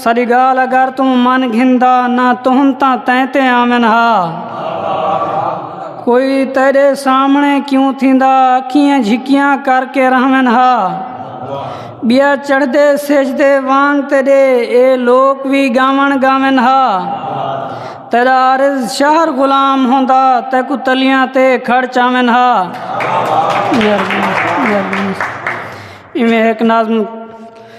ساݙی ڳالھ اگر توں من گھندا نہ تہم تاں تیں تے آون ہا کوئی تیݙے سامݨے کیوں تھیندا اکھیں جھکیاں کر کے رہون ہا ٻیا چڑھدے سجدے وانگ تیݙے اے لوک وی ڳاوݨ ڳاون ہا تیݙا عارض شہر غلام ہوندا تیکوں تلیاں تے کھڑ چاون ہا ایویں ہک نظم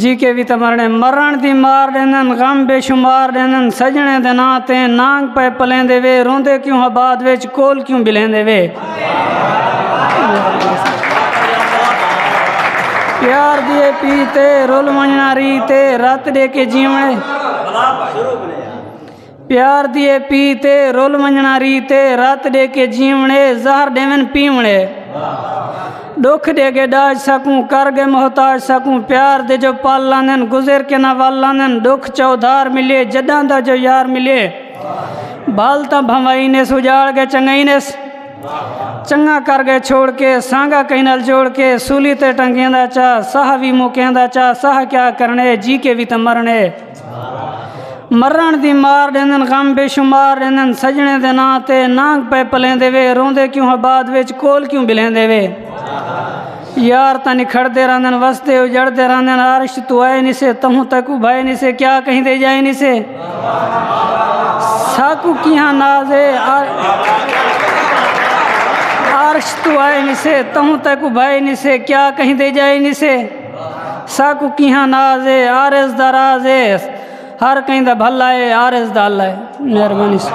جی کے وی تاں مرݨے مرݨ دی مار ݙیندن غم بے شمار ݙیندن سڄݨیں دے ناں تے نانگ پئے پلیندے وے روندے کیوں ہا بعد وچ کول کیوں ٻلیندے وے پیار دی اے پی تے رل ونڄݨا ری تے رت ݙے کے جیوݨ پیار دی اے پیت اے رل ونجنڑاں ریت اے رت ڈے کے جیونڑ اے زہر ڈیون پیونڑ اے ڈکھ ڈے گے ڈاج ساکوں کر گے محتاج ساکوں پیار دے جو پل لاندن گزر کے نہ ول لاندن ڈکھ چا ادھار ملے جڈاں دا جو یار ملے بھل تاں بھنوائی نیس اجاڑ گے چنگائی نیس چنگاں کر گے چھوڑ کے سانگا کہیں نال جوڑ کے سولی تے ٹنگیں دا چا ساہ وی موکیں دا چا ساہ کیا کرنے جی کے وی تاں مرنے مرݨ دی مار ݙیندن غم بے شمار ݙیندن سڄݨیں دے ناں تے نانگ پئے پلیندے وے روندے کیوں ہاں بعد وچ کول کیوں ٻلیندے وے یار تاں نکھڑدے رہندن وسدے اجڑدے رہندن عرش تو آئے نی سے تہوں تک ابھائے نی سے کیا کہندے جائے نی سے ساکو کیہاں ناز ہے عرش تو آئے نی سے تہوں تک ابھائے نی سے کیا کہندے جائے نی سے ساکوں کیہاں ناز اے عارض دا راز اے ہر کہیں دا بھلا اے عارض دا اللہ اے مہربانی